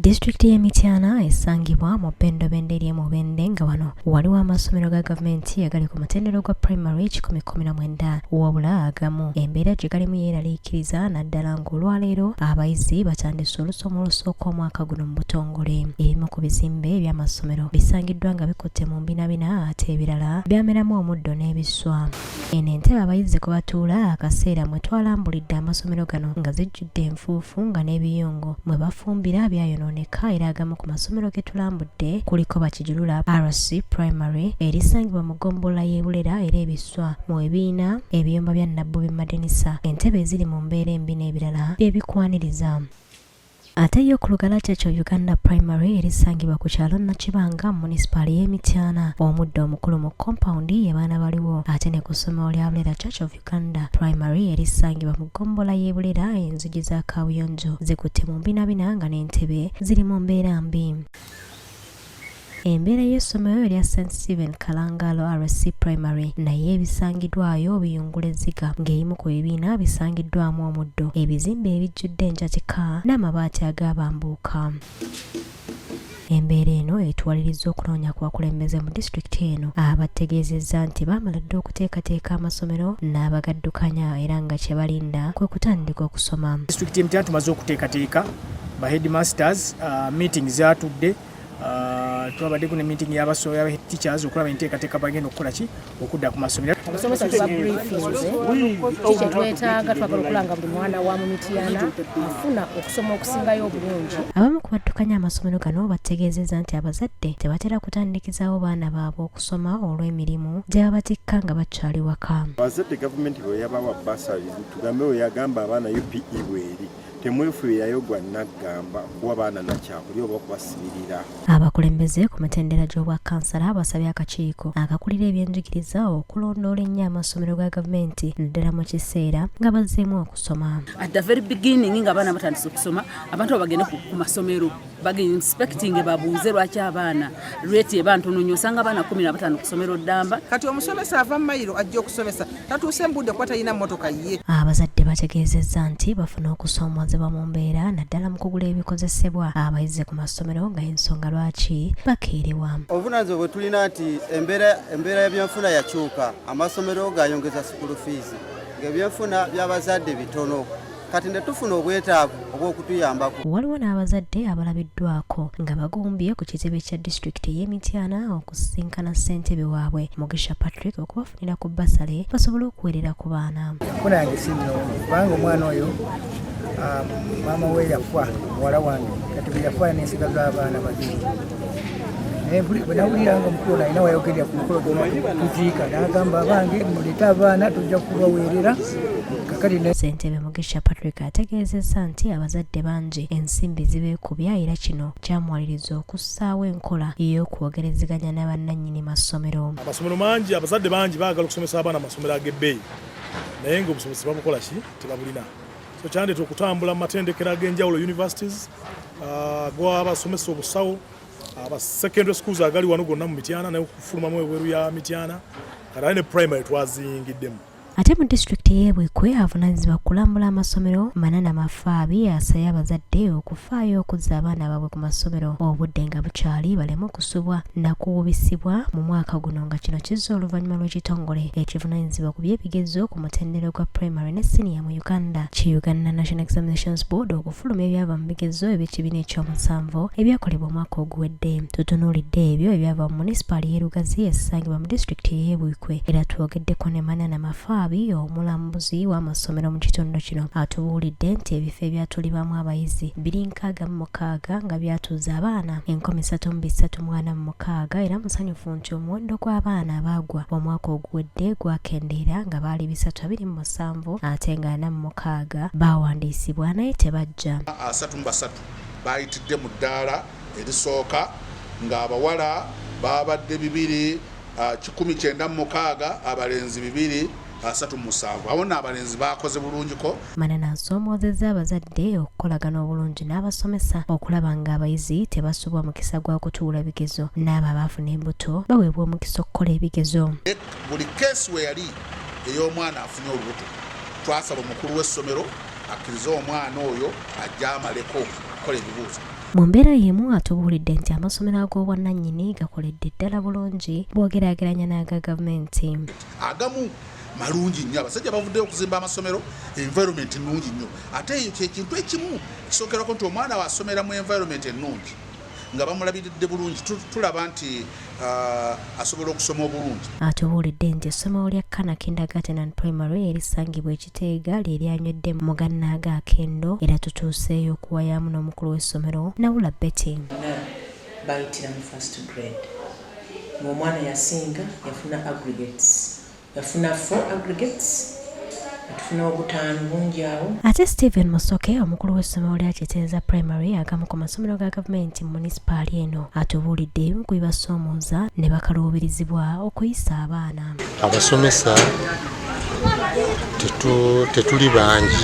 Disitulikiti y'e Mityana esangibwa mu Bendo Bende eri mu Bende nga wano waliwo amasomero ga gavumenti agali ku mutendero gwa primary kikumi kkumi na mwenda wabula agamu embeera gye galimu yeeraliikiriza naddala ng'olwaleero abayizi batandise olusoma olusooka omwaka guno mu butongole ebimu ku bizimbe eby'amasomero bisangiddwa nga bikutte mu mbinabina ate ebirala byameramu omuddo n'ebiswa Eno entebe abayizi kwe batuula akaseera mwe twalambulidde amasomero gano nga zijjudde enfuufu nga n'ebiyungu mwe bafumbira byayonooneka era agamu ku masomero ge tulambudde kuliko Bakijulula RC Primary erisangibwa mu ggombolola y'e Bulera era ebiswa mu ebiina ebiyumba bya Nabbubi Madenisa entebe eziri mu mbeera embi n'ebirala bye bikwaniriza. Ate yo ku lugala kyakyo Uganda Primary erisangibwa ku kyalo Nakibanga mu munisipaali y'e Mityana, omuddo omukulu mu kompawundi ye baana baliwo ate ne ku ssomero lya Bulera Church of Uganda Primary erisangibwa mu ggombolola y'e Bulera enzigi za kaabuyonjo zikutte mu mbinabina nga n'entebe ziri mu mbeera mbi. Embeera y'essomero erya St Stephen Kalangalo RC Primary naye ebisangiddwayo biyungula ezziga ng'eyimu ku bibiina bisangiddwamu omuddo, ebizimbe ebijjudde enjatika n'amabaati agaabambuuka. Embeera eno etuwalirizza okunoonya ku bakulembeze mu disitulikiti eno abategeezezza nti baamala dda okuteekateeka amasomero n'abagaddukanya era nga kye balinda kwe kutandika okusoma. Disitulikiti y'e Mityana tumaze okuteekateeka ba headmasters uh, meeting zatudde uh, twabaddeko ne meeting yabasoya teachers okulaba enteekateeka bagenda okukola ki okudda ku masomero abasomesa tubabrifinzekyetwetaaga twagala okulanga buli mwana wa mu mitiyana afuna okusoma okusingayo obulungi abamu ku baddukanya amasomero gano bategeezeza nti abazadde tebatera kutandikizawo baana baabwe okusoma olw'emirimu gyebabatikka nga bakyali waka abazadde gavumenti bweyabawa basali tugambe weyagamba abaana upe bweri temwefuirayo gwa naggamba kuwa baana nakyakulya oba okubasibirira abakulembeze ku mitendera gy'obwa kansala basabye akakiiko akakulira ebyenjigiriza okulondoola ennyo amasomero ga gavumenti naddala mu kiseera nga bazzeemu okusoma at the very beginning nga abaana batandise okusoma abantu abagende ku masomero baginspektinge babuuze lwaki abaana reti eba ntono nyo osanga abaana kumi na batano kusomero ddamba kati omusomesa ava mumayiro ajja okusomesa tatuuse mubudde kuba talina motoka ye abazadde bategeezezza nti bafuna okusoomoozebwa mu mbeera naddala mu kugula ebikozesebwa abayize ku masomero nga ensonga lwaki bakeerewa obuvunanyizibwa bwe tulina nti embeera yabyenfuna yakyuka amasomero gayongeza sukulu fiizi ngaebyenfuna byabazadde bitono kati ne tufuna obwetaavu obw'okutuyambako. Waliwo n'abazadde abalabiddwako nga bagumbye ku kitebe kya disitulikiti ey'e Mityana okusisinkana ssentebe waabwe Mugisha Patrick okubafunira ku bbasale basobole okuweerera ku baana. Kuna yange si nnungi kubanga omwana oyo ah, maama we yafa muwala wange kati bwe yafa n'ensiga z'abaana babiri naye buli bwe nawulira nga omukulu nalina wayogerera ku mukolo tuziika n'agamba abange muleete abaana tujja kubaweerera ssentebe mugisha patrick ategeezezza nti abazadde bangi ensimbi zibeekubya era kino kyamuwaliriza okussaawo enkola ey'okwogerezeganya ne bannannyini masomero amasomero mangi abazadde bangi baagala okusomesa abaana amasomero ag'ebbeeyi naye ng'obusobozi babukola ki tebabulina so kyandeta okutambula mu matendekero ag'enjawulo universities uh, gwabasomesa obusawo aba uh, secondary schools agali wano gonna mu mityana naye okufulumamu ebweru ya mityana kataye ne primary twaziyingiddemu ate mu disitulikiti y'ebwekwe avunaanyizibwa kulambula amasomero manana mafaabi asabye abazadde okufaayo okuzza abaana baabwe ku masomero obudde nga bukyali baleme okusubwa nakuwubisibwa mu mwaka guno nga kino kizza oluvannyuma lw'ekitongole ekivunaanyizibwa ku by'ebigezo ku mutendero gwa primary ne siniya Uganda ki Uganda National Examinations Board okufuluma ebyava mu bigezo eby'ekibiina ekyomusanvu ebyakolebwa omwaka oguwedde. Tutunuulidde ebyo ebyava mu munisipaali y'e Lugazi esangibwa mu disitulikiti ey'e Buikwe era twogeddeko ne Manana Mafaabi omulambuzi w'amasomero mu kitundu kino atubuulidde nti ebifo ebyatulibamu abayizi biri nkaaga mu mukaaga nga byatuuza abaana enkumi ssatu mu bisatu mwana mu mukaaga era musanyufu nti omuwendo gw'abaana abaagwa omwaka oguwedde gwakendeera nga baali bisatu abiri musanvu ate nga ana mu mukaaga baawandiisibwa naye tebajja. Asatu mu basatu baayitidde mu ddaala erisooka ng'abawala baabadde bibiri kikumi kyenda mu mukaaga, abalenzi bibiri asatu mu musanvu. Awo nno abalenzi baakoze bulungiko. Manana asoomoozezza abazadde okukolagana obulungi n'abasomesa okulaba ng'abayizi tebasubwa mukisa gwa kutuula bigezo n'abo abaafuna embuto baweebwa omukisa okukola ebigezo. Buli keesi we yali ey'omwana afunye olubuto twasaba omukulu w'essomero akkirize omwana oyo ajja amaleko okukola ebibuuzo mu mbeera y'emu atubuulidde nti amasomero ag'obwannannyini gakoledde ddala bulungi bw'ogeraageranya n'aga gavumenti agamu malungi nnyo abasajja bavuddeyo okuzimba amasomero environment nnungi nnyo ate eyo kyekintu ekimu kisookerako nti omwana wasomera mu environment ennungi nga bamulabiridde bulungi tulaba nti uh, asobola okusoma obulungi atubuulidde nti essomero lya kana kindagaten and primary erisangibwa ekiteega lyeryanywedde mu gannaaga akendo era tutuuseeyo okuwayaamu n'omukulu w'essomero nawula betty bayitira mu first grade ng'omwana yasinga yafuna aggregates Yafuna 4 aggregates atufuna obutaano bungi awo. Ate Stephen Musoke omukulu w'essomero lya Kitenza Primary agamu ku masomero ga gavumenti mu munisipaali eno atubuulidde ebimu ku bibasoomooza ne bakaluubirizibwa okuyisa abaana. Abasomesa tetuli bangi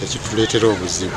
ekituleetera obuzibu.